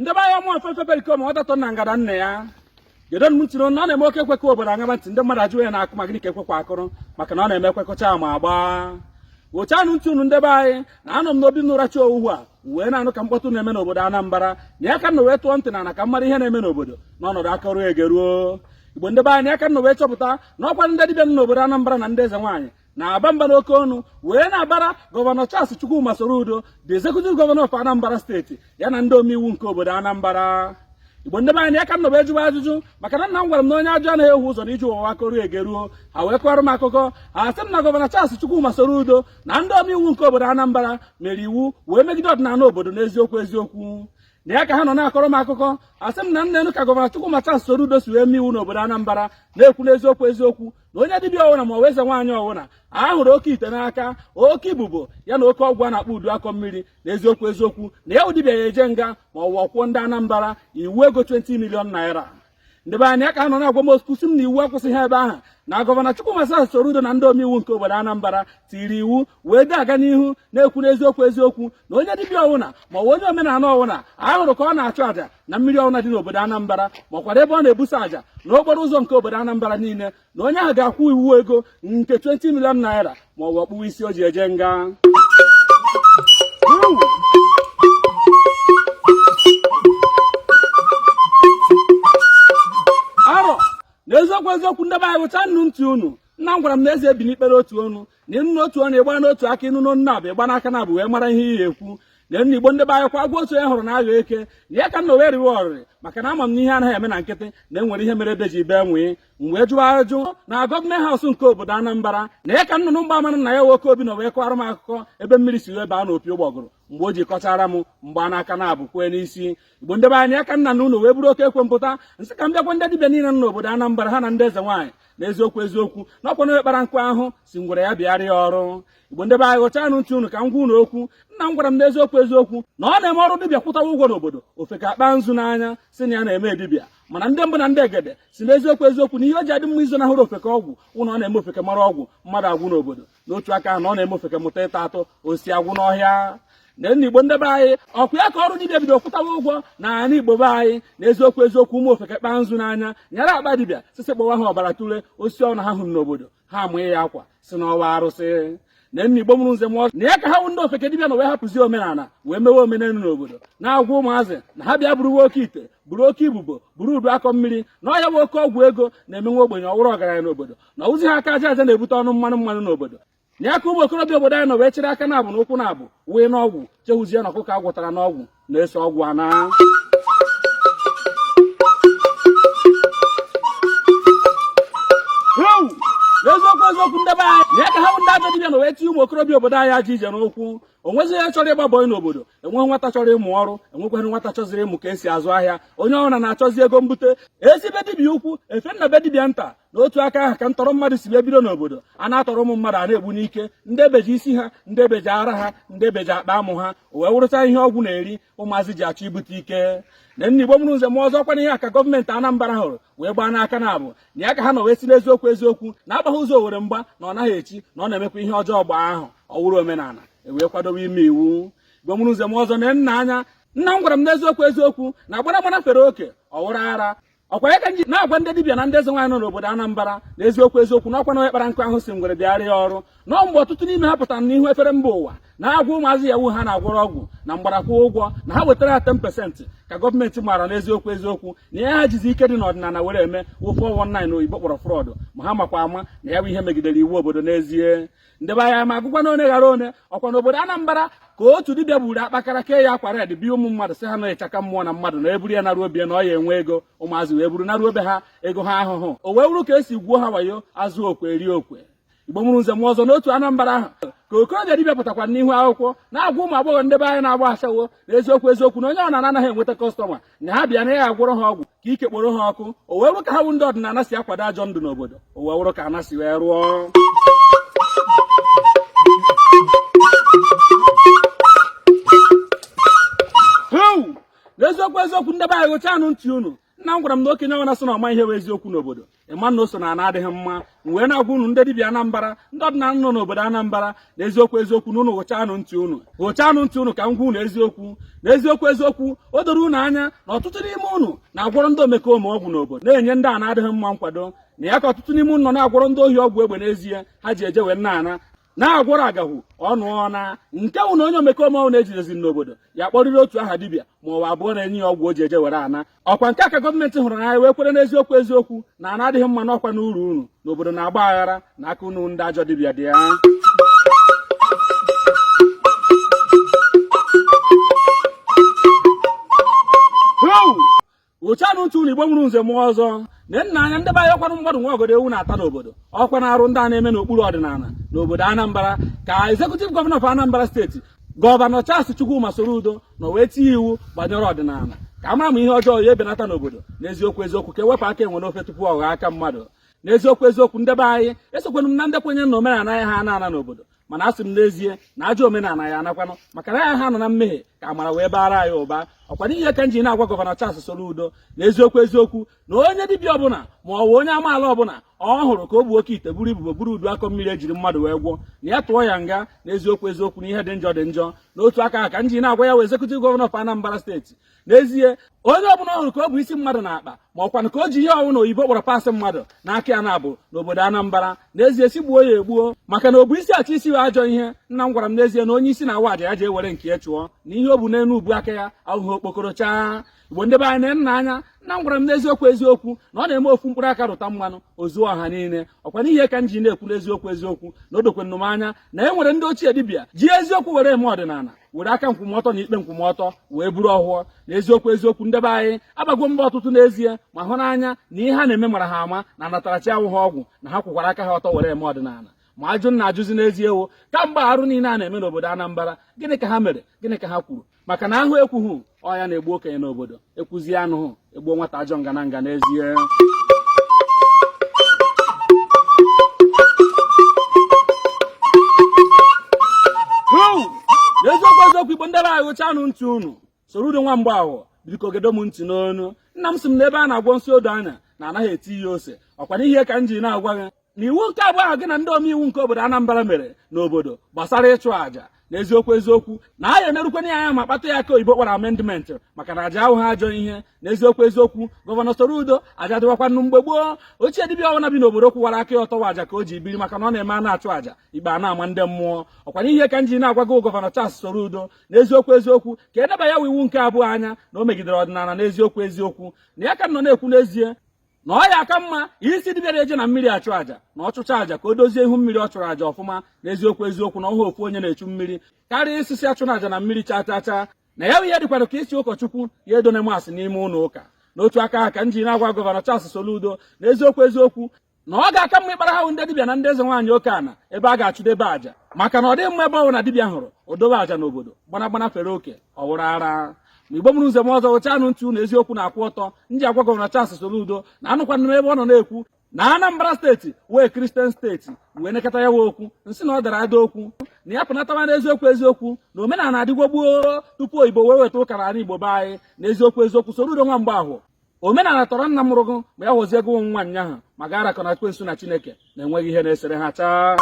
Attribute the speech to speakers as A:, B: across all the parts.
A: ndị be anyị mụ afefe berikom ọ datọ na ngada nne ya gedo m ntị na ọ na-eme oke ekwe kụọ obodo aṅaba ntị ndị mmadụ ajụwa na-akụ ma gịnị ka ekwe kwa kụrụ maka na ọ na-eme ekwe kụchaa ma agba wụchanụ ntị unu ndị be anyị na anọ m n'obi n'ụrachi owuwu a wee na-anụ ka mkpọtụ na-eme n'obodo Anambra na ya ka m nọ wee tọọ ntị n'ana ka m mara ihe na-eme n'obodo n'ọnọdụ a kọruo e geruo igbo ndị be anyị ya ka m nọ wee chọpụta na ọkwa ndị dibịa n'obodo Anambra na ndị eze nwaanyị na-aba mba n'oke ọnụ wee na-abara gọvanọ Charles Chukwuma Soludo the executive governor of Anambra steeti ya na ndị omeiwu nke obodo Anambra igbo ndị be anyị ya ka m nọ wee jụba ajụjụ maka na nna m gwara m na onye ajụjụ anaghị efu ụzọ na ije ụwa a kọruo e geruo ha wee kọrọ m akụkọ ha sị m na gọvanọ Charles Chukwuma Soludo na ndị omeiwu nke obodo Anambra mere iwu wee megide ọdịnala obodo n'eziokwu eziokwu na ya ka ha nọ na-akọrọ m akụkọ a sị m na neenụ ka gọvanọ Chukwuma Charles Soludo si wee mee iwu n'obodo Anambra na-ekwu n'eziokwu eziokwu na onye dibịa ọwụna ma ọ wụ eze nwaanyị ọwụna a hụrụ oke ite n'aka oke ibobo ya na oke ọgwụ a na-akpọ udu akọ mmiri na eziokwu eziokwu na ya wụ dibịa ya-eje nga ma ọ wụ ọ kwụọ ndị Anambra iwu ego 20 million naira ndị be anyị a ka nọ na-agwa m sịkwu sị m na iwu akwụsịghị ebe ahụ na gọvanọ Chukwuma Soludo na ndị omeiwu nke obodo Anambra tiri iwu wee dị aga n'ihu na-ekwu n'eziokwu eziokwu na onye dibịa ọwụna ma ọ bụ onye omenala ọwụna a hụrụ ka ọ na-achụ àjà na mmiri ọwụna dị n'obodo Anambra makwara ebe ọ na-ebusa àjà na okporo ụzọ nke obodo Anambra niile na onye ahụ ga-akwụ iwu ego nke 20 million naira ma ọ bụ ọ kpụwa isi o ji eje nga na eziokwu eziokwu ndị be anyị wụchanụ ntị unu nna m gwara m na eze ebina ikpe n'otu ọnụ na ị nụ n'otu ọnụ ị gbaa n'otu aka ị nụ n'ọnụ naabọ ị gbaa n'aka naabọ wee mara ihe ị ya-ekwu n'ana igbo ndị be anyị ọkwa agwọ otu onye hụrụ na-aghọ eke na ya ka m nọ wee riwe ọrịrị maka na ama m na ihe anaghị eme na nkịtị na e nwere ihe mere ede ji bee nwii m wee jụọ ajụ na government house nke obodo Anambra na ya ka nnụnụ mgbama na ya nwoke obi na wee kọrọ m akụkọ ebe mmiri si wee baa n'opi ụgbọgụrụ mgbe o ji kọchaara m m gbaa n'aka naabọ kwee n'isi igbo ndị be anyị ya ka m naa ụlọ wee buru oke ekwe m pụta sị ka m bịa gwa ndị dibịa niile nọ n'obodo Anambra ha na ndị eze nwaanyị na eziokwu eziokwu na ọkwa onye kpara nkụ ahụhụ sị ngwere ya bịara ya ọrụ igbo ndị be anyị wụchanụ ntị unu ka m gwa unu okwu nna m gwara m n'eziokwu eziokwu na ọ na-eme ọrụ dibịa kwụtawa ụgwọ n'obodo ofeke akpaa nzu n'anya sị na ya na-eme dibịa mana ndị mbụ na ndị egede sị n'eziokwu eziokwu na ihe o ji adị mma izonahụrụ ofeke ọgwụ wụ na ọ na-eme ofeke mara ọgwụ mmadụ agwụ n'obodo n'otu aka ahụ na ọ na-eme ofeke mụta ịta atụ osisi agwụ n'ọhịa n'ana igbo ndị be anyị ọkwa ya ka ọrụ dibịa bido kwụtawa ụgwọ na ala igbo be anyị na eziokwu eziokwu ụmụ ofeke kpaa nzu n'anya nyara akpa dibịa sisi kpọwa ha ọbara tule osisi ọwụna ha hụrụ n'obodo ha amanye ya akwa sị na ọ wụ arụsị n'ana igbo mụrụ nze mụọ na ya ka ha wụ ndị ofeke dibịa nọ wee hapụzi omenala wee mewe omenelu n'obodo na-agwa ụmụazị na ha bịa buruwa oke ite buru oke ibobo buru udu akọ mmiri na ọ ya bụ oke ọgwụ ego na-eme nwa ogbenye ọ wụrụ ọgaranya n'obodo na ozi ha aka aja aja na-ebute ọnụ mmanụ mmanụ n'obodo na ya ka ụmụ okorobịa obodo anyị nọ wee chịrị aka naabọ na ụkwụ naabọ wee n'ọgwụ chefuzie na ọkụkọ a gwọtara n'ọgwụ na-eso ọgwụ ana n'eziokwu eziokwu ndị be anyị na ya ka ha bụ ndị ajọ dibịa na wee tinye ụmụ okorobịa obodo anyị ajọ ije n'ụkwụ o nwezi onye chọrọ ịgba bọị n'obodo enweghị nwata chọrọ ịmụ ọrụ enwekwaghị nwata chọziri ịmụ ka esi azụ ahịa onye ọbụla na-achọzi ego mbute e si be dibịa ukwu efee na be dibịa nta n'otu aka ahụ ka ntọrọ mmadụ si wee bido n'obodo a na-atọrọ ụmụ mmadụ a na-egbu n'ike ndị ebeji isi ha ndị ebeji ara ha ndị ebeji akpa amụ ha o wee wụrụcha ihe ọgwụ na-eri ụmụazị ji achọ ibute ike na nna Igbo mụrụ nze mụọ ọzọ ọkwa na ihe a ka gọọmenti Anambra hụrụ wee gbaa n'aka naabọ na ya ka ha nọ wee sị n'eziokwu eziokwu na a gbaghị ụzọ owere mgba na ọ naghị echi na ọ na-emekwa ihe ọjọọ gbaa ahọ ọ wụrụ omenala e wee kwadobe ime iwu Igbo mụrụ nze mụọ ọzọ na nna anya nna m gwara m n'eziokwu eziokwu na agbara gbara fere oke ọ wụrụ ara ọkwa ya ka m ji na-agwa ndị dibịa na ndị eze nwaanyị nọ n'obodo Anambra na eziokwu eziokwu na ọkwa na onye kpara nkụ ahụhụ sị ngwere bịara ya ọrụ na mgbe ọtụtụ n'ime ha pụtara n'ihu efere mba ụwa na-agwa ụmụazị Yahoo ha na-agwọrọ ọgwụ na mgbada kwụọ ụgwọ na ha wetara ya 10% ka gọọmenti maara n'eziokwu eziokwu na ihe ha jizi ike dị n'ọdịnala were eme wụ 419 na oyibo kpọrọ fraud ma ha makwa ama na ya bụ ihe megidere iwu obodo n'ezie ndị be anyị m ya-agụkwanụ one ghara one ọkwa n'obodo Anambra ka otu dibịa gburu akpakara kee ya akwa red bịa ụmụ mmadụ sị ha na ịchaka mmụọ na mmadụ na e buru ya naruo be ya na ọ ya-enwe ego ụmụazị wee buru naruo be ha ego ha ahụhụ o wee wụrụ ka esi gwuo ha wayo azụ okwe eri okwe Igbo mụrụ nze mụọ ọzọ n'otu Anambra ahụ ka okorobịa dibịa pụtakwa n'ihu akwụkwọ na-agwa ụmụ agbọghọ ndị be anyị na-agba ashawo na eziokwu eziokwu na onye ọ na-anaghị enweta customer na ha bịa na ya agwọrọ ha ọgwụ ka ike kporo ha ọkụ o wee wụrụ ka ha bụ ndị ọdịnala si akwado ajọ ndụ n'obodo o wee wụrụ ka ana si wee rụọ n'eziokwu eziokwu ndị be anyị ghụchanụ ntị unu nna m gwara m na okenye ọwụna sị na ọ ma ihe bụ eziokwu n'obodo ị ma na o so na ana adịghị mma m wee na-agwa unu ndị dibịa Anambra ndị ọdịnala nọ n'obodo Anambra na eziokwu eziokwu na unu ghụchanụ ntị unu ghụchanụ ntị unu ka m gwa unu eziokwu na eziokwu eziokwu o doro unu anya na ọtụtụ n'ime unu na-agwọrọ ndị omekome ọgwụ n'obodo na-enye ndị ana adịghị mma nkwado na ya ka ọtụtụ n'ime unu nọ na-agwọrọ ndị ohi ọgwụ egbe n'ezie ha ji eje wee na-ana na-agwọrọ agahụ ọnụ ọna nke wụ na onye omekome ọwụna e jidezi n'obodo ya kpọrịrị otu aha dibịa ma ọ wụ abụọ na-enye ya ọgwụ o ji eje were ana ọkwa nke a ka gọọmenti hụrụ n'anya wee kwere n'eziokwu eziokwu na ana adịghị mma na ọkwa na uru unu n'obodo na-agba aghara na aka unu ndị ajọ dibịa dị ya ụchanụ ntị unu Igbo mụrụ nze mụọ ọzọ na nna anya ndị be anyị ọkwanụ mmadụ nwe ogodo ewu na-ata n'obodo ọkwa n'arụ ndị a na-eme n'okpuru ọdịnala n'obodo Anambra ka executive governor of Anambra state gọvanọ Charles Chukwuma Soludo na wee tinye iwu banyere ọdịnala ka a mara ma ihe ọjọọ ya ebenata n'obodo n'eziokwu eziokwu ka e wepụ aka enwe n'ofe tupu ọ ghọọ aka mmadụ n'eziokwu eziokwu ndị be anyị esokwenụ m na ndị kwenye na omenala ya ha ana ana n'obodo mana asị m n'ezie na ajọ omenala ya anakwanụ maka na ya ha nọ na mmehie ka amara wee baara anyị ụba ọkwanụ ihe ka m ji na-agwa gọvanọ Charles Soludo na eziokwu eziokwu na onye dibịa ọbụla ma ọ bụ onye amaala ọbụla ọ hụrụ ka o bu oke ite buru ibubo buru udu akọ mmiri e jiri mmadụ wee gwọ na ya tụọ ya nga na eziokwu eziokwu na ihe dị njọ dị njọ n'otu aka ka m ji na-agwa ya wụ executive governor of Anambra state n'ezie onye ọbụla ọ hụrụ ka o bu isi mmadụ n'akpa ma ọkwanụ ka o ji ihe ọwụna oyibo kpọrọ parts mmadụ n'aka ya na-abụ n'obodo Anambra n'ezie sị gbuo ya egbuo maka na o bu isi achọ isi wụ ajọ ihe nna m gwara m n'ezie na onye isi na-awa aja ya ji ewere nke ya chụọ na ihe o bu n'elu ubu aka ya awụhụ okpokoro chaa igbo ndị be anyị na anya nna m gwara m n'eziokwu eziokwu na ọ na-eme ofu mkpụrụ aka rụta mmanụ o zuo ọha niile ọkwa n'ihe ka m ji na-ekwu n'eziokwu eziokwu na o dokwenụ m anya na e nwere ndị ochie dibịa ji eziokwu were eme ọdịnala were aka nkwụmọtọ na ikpe nkwụmọtọ wee buru ọhọ na eziokwu eziokwu ndị be anyị abago m mba ọtụtụ n'ezie ma hụ n'anya na ihe ha na-eme mara ha ama na anatarachi awụha ọgwụ na ha kwụkwara aka ha ọtọ were eme ọdịnala ma ajụ na-ajụzi n'ezie wo kamgbe arụ niile a na-eme n'obodo Anambra gịnị ka ha mere gịnị ka ha kwuru maka na a hụ ekwughị ọ ya na-egbu okenye n'obodo ekwuzie anụhụ egbuo nwata ajọ ngana nga n'ezie n'eziokwu eziokwu igbo ndị be anyị gụchanụ ntị unu Soludo nwa Mgbeahọ biko gedo m ntị n'onu nna m sị m na ebe a na-agwọ nsi odo anya na anaghị etiye ose ọkwa n'ihe ka m ji na-agwa gị na iwu nke abụọ ahụ gị na ndị omeiwu nke obodo Anambra mere n'obodo gbasara ịchụ àjà na eziokwu eziokwu na a ya enerukwanụ ya anya ma kpatụ ya aka oyibo kpọrọ amendment maka na aja awụha ajọ ihe na eziokwu eziokwu gọvanọ Soludo aja dịwakwanụ mgbe gboo ochie dibịa ọbụla bi n'obodo kwụwara aka ya ọtọ wụ aja ka o ji biri maka na ọ na-eme a na-achụ aja ikpe a na-ama ndị mmụọ ọkwanụ ihe ka m ji na-agwa gị gọvanọ Charles Soludo na eziokwu eziokwu ka e neba ya iwu nke abụọ anya na o megidere ọdịnala na eziokwu eziokwu na ya ka nọ na-ekwu n'ezie na ọ ya aka mma ịsị dibịa na-eje na mmiri achụ àjà na ọ chụcha àjà ka o dozie ihu mmiri ọ chụrụ àjà ọfụma na eziokwu eziokwu na ọ wụhụ ofu onye na-echu mmiri karịa ịsị sị achụna àjà na mmiri chaa chaa chaa na ya ihe dịkwara ka ịsị ụkọchukwu ya edone mass n'ime ụlọ ụka n'otu aka ka m ji na-agwa gọvanọ Charles Soludo na eziokwu eziokwu na ọ ga-aka mma ịkpara ha wụ ndị dibịa na ndị eze nwaanyị oke ana ebe a ga-achụdebe àjà maka na ọ dịghị mma ebe ọwụna dibịa hụrụ o dobe àjà n'obodo gbanagbana fere oke ọ wụrụ ara ma igbo mụrụ nze mụọ ọzọ ghụchaanụ ntị unu eziokwu na-akwụ ọtọ m ji agwa gọvanọ Charles Soludo na anụkwanụ m ebe ọ nọ na-ekwu na Anambra steeti wụ Kristian steeti m wee nekata ya wa okwu m sị na ọ dara ada okwu na ya pụnatawa n'eziokwu eziokwu na omenala adịgwo gboo tupu oyibo wee weta ụka n'ala Igbo be anyị na eziokwu eziokwu Soludo nwa Mgbahọ omenala tọrọ nna mụrụ gụ ma ya họzie gụ nwa nnyaahụ ma ga arakọ na ekwensu na chineke na enweghị ihe na-esere ha chaa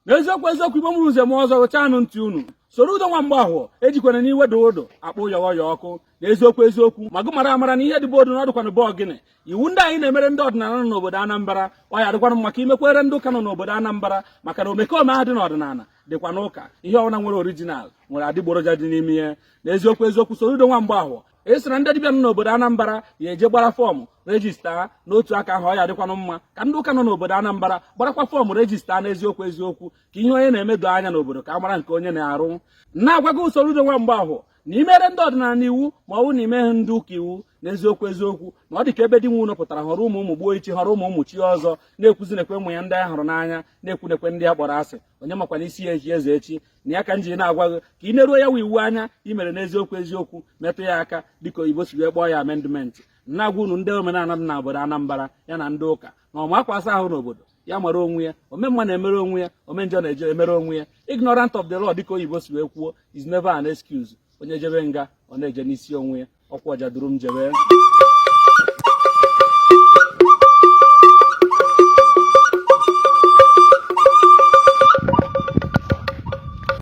A: n'eziokwu eziokwu igbo mụrụ nze mụọ ọzọ ghụchaanụ ntị unu Soludo nwa Mgbahọ ejikwana n'iwe odudu akpọ yọghọ ya ọkụ na eziokwu eziokwu ma gụ mara amara na ihe dị be odu na ọ dụkwanụ be ogini iwu ndị a ị na-emere ndị ọdịnala nọ n'obodo Anambra ọ ya-adịkwanụ mma ka i mekwere ndị ụka nọ n'obodo Anambra maka na omekome ahụ dị n'ọdịnala dịkwa n'ụka ihe ọbụla nwere orijinal nwere adịgboroja dị n'ime ya na eziokwu eziokwu Soludo nwa Mgbahọ ị sị na ndị dibịa nọ n'obodo Anambra ya-eje gbara fọọmụ rejista n'otu aka ahụ ọ ya-adịkwanụ mma ka ndị ụka nọ n'obodo Anambra gbarakwa fọọmụ rejista n'eziokwu eziokwu ka ihe onye na-eme doo anya n'obodo ka a mara nke onye na-arụ na-agwa gụ Soludo nwa Mgbahọ na i mere ndị ọdịnala iwu ma ọ bụ na i meghị ndị ụka iwu n'eziokwu eziokwu na ọ dị ka ebe di nwe ụlọ pụtara họrọ ụmụ gbuo ichi họrọ ụmụ chie ọzọ na-ekwuzi nekwe ụmụ ya ndị a hụrụ n'anya na-ekwu nekwe ndị a kpọrọ asị onye makwanụ isi ya-echi eze echi na ya ka m ji na-agwa gị ka ị neruo ya wa iwu anya i mere n'eziokwu eziokwu metụ ya aka dịka oyibo si wee kpọọ ya amendment na-agwa unu ndị omenala dị na obodo Anambra ya na ndị ụka na ọma akwa asa ahụ n'obodo ya mara onwe ya ome mma na-emere onwe ya ome njọ na-eje emere onwe ya ignorant of the law dịka oyibo si wee kwuo is never an excuse onye jebe nga ọ na-eje n'isi onwe ya ọkwa Ọjadụrụ m jebe